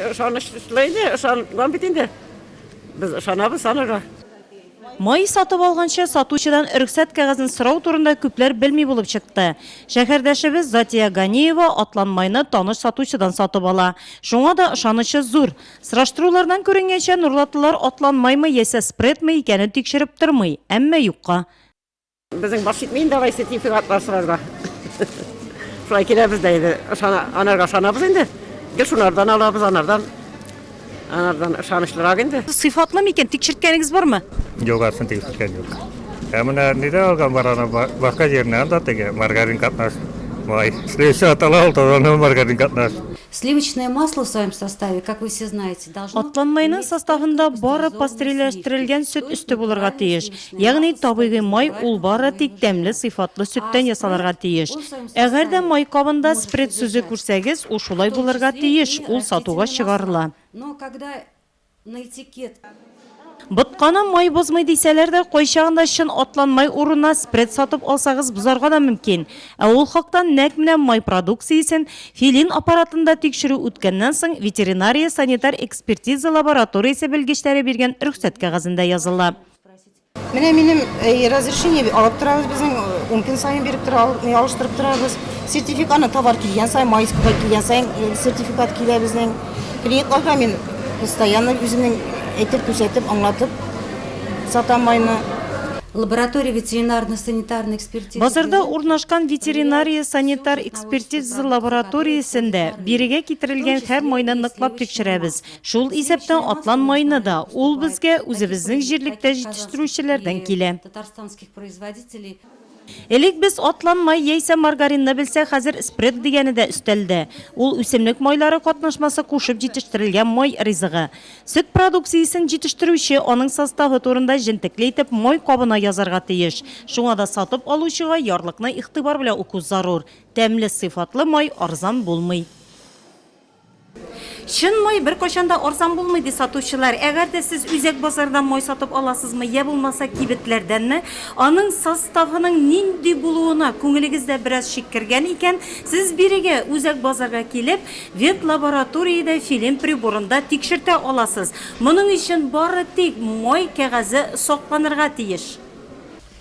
Ышанычлы иде, ышанган бит инде. Без ышанабыз анага. Май сатып алганчы сатучыдан рөхсәт кәгазен сорау турында күпләр белми булып чыкты. Шәһәрдәшебез Затия Ганиева атлан майны таныш сатучыдан сатып ала. Шуңа да ышанычы зур. Сораштырулардан күренгәнчә, нурлатлылар атлан маймы яисә спредмы икәнен тикшереп тормый, әмма юкка. Безнең баш җитми инде алай сертификатлар сорарга. Шулай киләбез дә инде. Ышана, анарга ышанабыз инде. Гел шунардан алабыз, анардан. Анардан ышанычлырак инде. Сыйфатлы микән? Тикшерткәнегез бармы? Югарысын тикшерткән юк. Ә менә нидә алган бар аны башка җиреннән да теге маргарин катнаш. Май. Сливочный атала ул, тозаны маргарин катнаш. Сливочное масло в своем составе, как вы все знаете. Атланмайның составында бары пастериләштерелгән сөт өсте булырга тиеш. Ягъни табигый май ул бары тик тәмле сыйфатлы сөттән ясалырга тиеш. Әгәр дә май кабында спред сүзе күрсәгез, ул шулай булырга тиеш, ул сатуга чыгарыла. Но когда на этикет Ботканы май бозмый дисәләр дә, кайчагында чын атлан май урынына спред сатып алсагыз бозарга да мөмкин. Ә ул хакта нәкъ менә май продукциясен Филин аппаратында тикшерү үткәннән соң ветеринария-санитар экспертиза лабораториясе белгечләре биргән рөхсәт кәгазендә языла. Менә минем э, разрешение алып торабыз безнең, э, ун көн сайын биреп тора, э, алыштырып торабыз. Сертификатны товар килгән сайын, майскага килгән сайын сертификат килә безнең. Клиентларга мин постоянно үземнең әйтеп күрсәтеп, аңлатып сатам майны. Лаборатория ветеринарно-санитарный экспертиза. Базарда урнашкан ветеринария санитар экспертиза лабораториясендә бирегә китерелгән һәр майны ныклап тикшерәбез. Шул исәптән атлан маена да, ул безгә үзебезнең җирлектә җитештерүчеләрдән килә. Элек без атлан май яисә маргаринны белсәк, хәзер спред дигәне дә өстәлдә. Ул үсемлек майлары катнашмасы кушып җитештерелгән май ризыгы. Сөт продукциясен җитештерүче аның составы турында җентекле итеп май кабына язарга тиеш. Шуңа да сатып алучыга ярлыкны игътибар белән уку зарур. Тәмле, сыйфатлы май арзан булмый. Чын май беркайчан да арзан булмый, ди сатучылар. Әгәр дә сез үзәк базардан май сатып аласызмы, йә булмаса кибетләрдәнме, аның составының нинди булуына күңелегез дә бераз шик кергән икән, сез бирегә, үзәк базарга килеп, ветлабораториядә филин приборында тикшертә аласыз. Моның өчен бары тик май кәгазе сакланырга тиеш.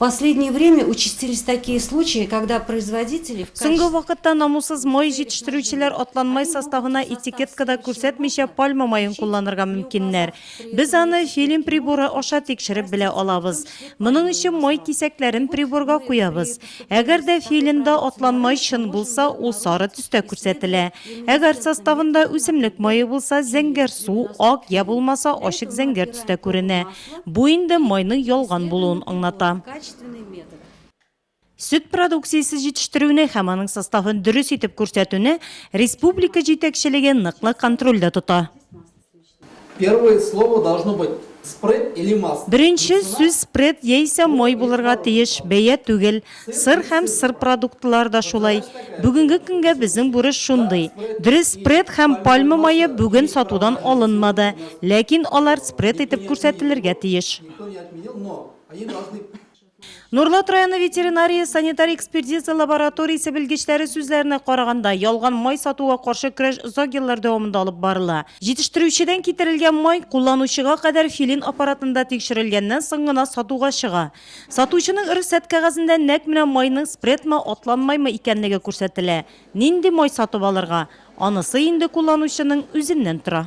Последнее время участились такие случаи, когда производители в качестве Соңгы вакытта намуссыз май җитештерүчеләр атланмай составына этикеткада күрсәтмичә пальма маен кулланырга мөмкиннәр. Без аны филин приборы аша тикшереп белә алабыз. Моның өчен май кисәкләрен приборга куябыз. Әгәр дә филинда атланмай чын булса, ул сары төстә күрсәтелә. Әгәр составында үсемлек мае булса, зәңгәр су, ак я булмаса ачык зәңгәр төстә күренә. Бу инде майның ялган булуын аңлата. Сөт продукциясе җитештерүне һәм аның составын дөрес итеп күрсәтүне республика җитәкчелеге ныклы контрольдә тота. Первое слово должно быть спред или масло. Беренче сүз спред яисә май булырга тиеш, бәя түгел. Сыр һәм сыр продуктлары да шулай. Бүгенге көнгә безнең бурыч шундый. Дөрес, спред һәм пальма мае бүген сатудан алынмады, ләкин алар спред итеп күрсәтелергә тиеш. Нурлат районы ветеринария-санитар экспертиза лабораториясе белгечләре сүзләренә караганда, ялган май сатуга каршы көрәш озак еллар дәвамында алып барыла. Җитештерүчедән китерелгән май кулланучыга кадәр филин аппаратында тикшерелгәннән соң гына сатуга чыга. Сатучының рөхсәт кәгазендә нәкъ менә майның спредмы, атланмаймы икәнлеге күрсәтелә. Нинди май сатып алырга, анысы инде кулланучының үзеннән тора.